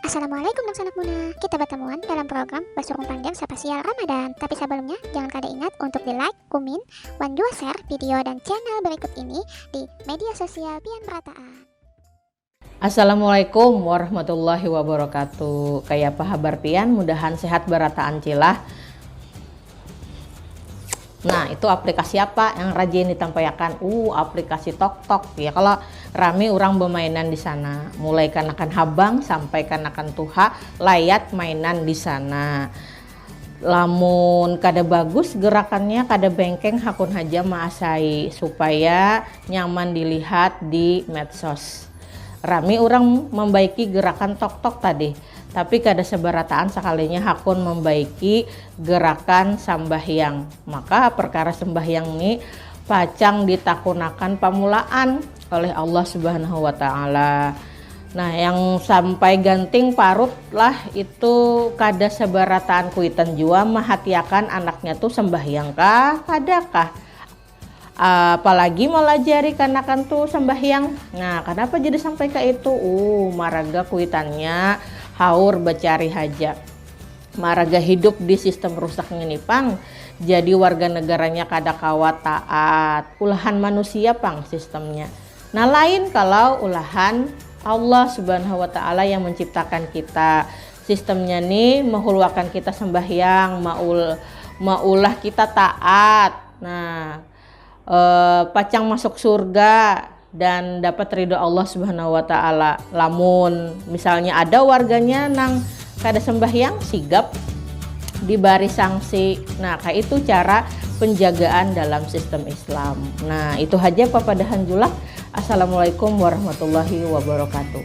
Assalamualaikum dangsanak Muna. Kita batamuan dalam program Basurung Panjang Sapasial Ramadan. Tapi sabalumnya, jangan kada ingat untuk di like, kumin, wan jua share video dan channel berikut ini di media sosial pian merataan. Assalamualaikum warahmatullahi wabarakatuh. Kayapa habar pian? Mudahan sehat barataan cilah. Nah, itu aplikasi apa yang rajin ditampaiakan? Uh, aplikasi tok-tok. Ya, kalau rame orang bermainan di sana. Mulai kanakan habang sampai kanakan tuha, layat mainan di sana. Lamun kada bagus gerakannya, kada bengkeng, hakun haja maasai supaya nyaman dilihat di medsos. Rame orang membaiki gerakan tok-tok tadi. Tapi kada sabarataan sakalinya hakun mambaiki gerakan sambahyang. Maka perkara sambahyang ni pacang ditakunakan pamulaan oleh Allah Subhanahu Wa Taala. Nah, yang sampai ganting parut lah itu kada sabarataan kuitan jua mahatiakan anaknya tu sambahyang kah kada kah. Uh, apalagi melajari kanakan tuh sembahyang. Nah, kenapa jadi sampai ke itu? Uh, maraga kuitannya haur bercari haja. Maraga hidup di sistem rusak ini pang. Jadi warga negaranya kada kawa taat. Ulahan manusia pang sistemnya. Nah, lain kalau ulahan Allah Subhanahu wa taala yang menciptakan kita. Sistemnya nih mehulwakan kita sembahyang, maul maulah kita taat, Nah, eh, pacang masuk surga dan dapat ridho Allah Subhanahu wa taala. Lamun misalnya ada warganya nang kada sembahyang sigap dibari sanksi. Nah, kayak itu cara penjagaan dalam sistem Islam. Nah, itu saja papadahan julak. Assalamualaikum warahmatullahi wabarakatuh.